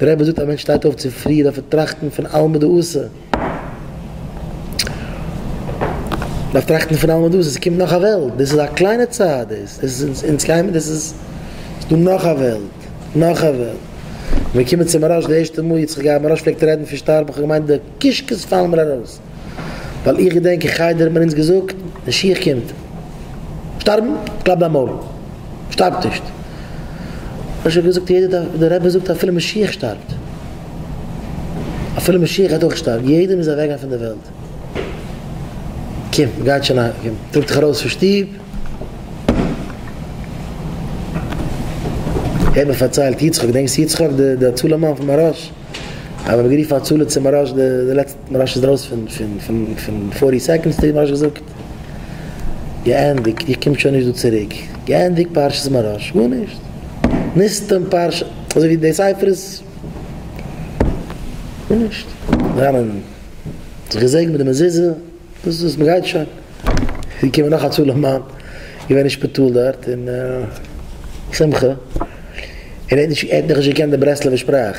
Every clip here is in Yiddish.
דער רבי זאגט א מענטש שטייט אויף צו פרי דארף ער טראכטן פון אלמא דאסע, דארף טראכטן פון אלמא דאסע, עס קומט נאך א וועלט, דאס איז א קליינע צייט דאס, דאס איז אונז קיימער, דאס איז דא נאך א וועלט, נאך א וועלט, מיר קומען צו מהרש די ערשטע מאל, יצחק געבער מהרש פלעגט רעדן פון שטארבן, איך האב געמיינט די קישקעס פאלן מיר ארויס. ווייל איך געדענק אין חדר האט מען אונז געזאגט, משיח קומט. שטארבן? קלאפ דיין מויל. שטארבט נישט. איך האב געזאגט יעדער דארף, דער רבי זאגט אפילו משיח שטארבט. אפילו משיח גייט אויך שטארבן. יעדער מוז אוועק גיין פון דער וועלט. קום, מען גייט שוין אהיים. קום, טראג דיך ארויס פון שטוב. העט מען פארציילט יצחק, דענקסט יצחק, דער הצלה מאן פון מהרש? אז מען האט גערופן הצלה צו מהרש די לעצטע. מרש איז ארויס פון פון פון פון פארטי סעקאנדס טעיפ מרש געזאגט געענדיגט איר קומט שוין נישט דא צוריק געענדיגט פרשת מרש גארנישט נסתם פרשה אזוי ווי די ספר איז גארנישט אריין און זיך געזעגנט מיט די מזוזה דאס איז מ'גייט שוין געקומען נאך א צלם מאן געווען אין שפיטאל דארט און שמחה און ער האט נאכנישט געקענט די ברסלב'ע שפראך.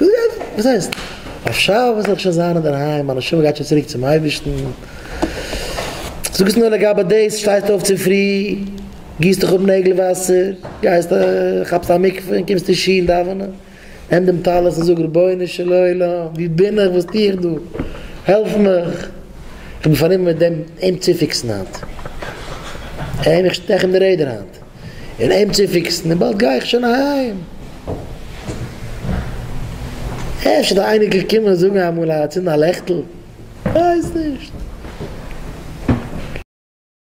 וואס הייסט? אויף שבת וועל איך שוין זיין אינדערהיים, מיין נשמה גייט שוין צוריק צום אייבערשטן. זאג עס נאר לגבי דאס, שטייסט אויף צופרי, גיסט דיך אפ נעגל וואסער, גייסט כאפסט א מקווה און קומסט אין שול דאווענען, נעם דעם טלית און זאג רבונו של עולם, וואו בין איך, וואס טו איך דא, העלף מיך, איך בין פארנומען מיט דעם אים צופיקסן היינט, אים, איך שטעך אים די רעדער היינט. און אים צופיקסן און באלד גיי איך שוין אהיים. אפשר די אייניקל קומען זאגן אמאל א צינד א לעכטל, כ'ווייס נישט.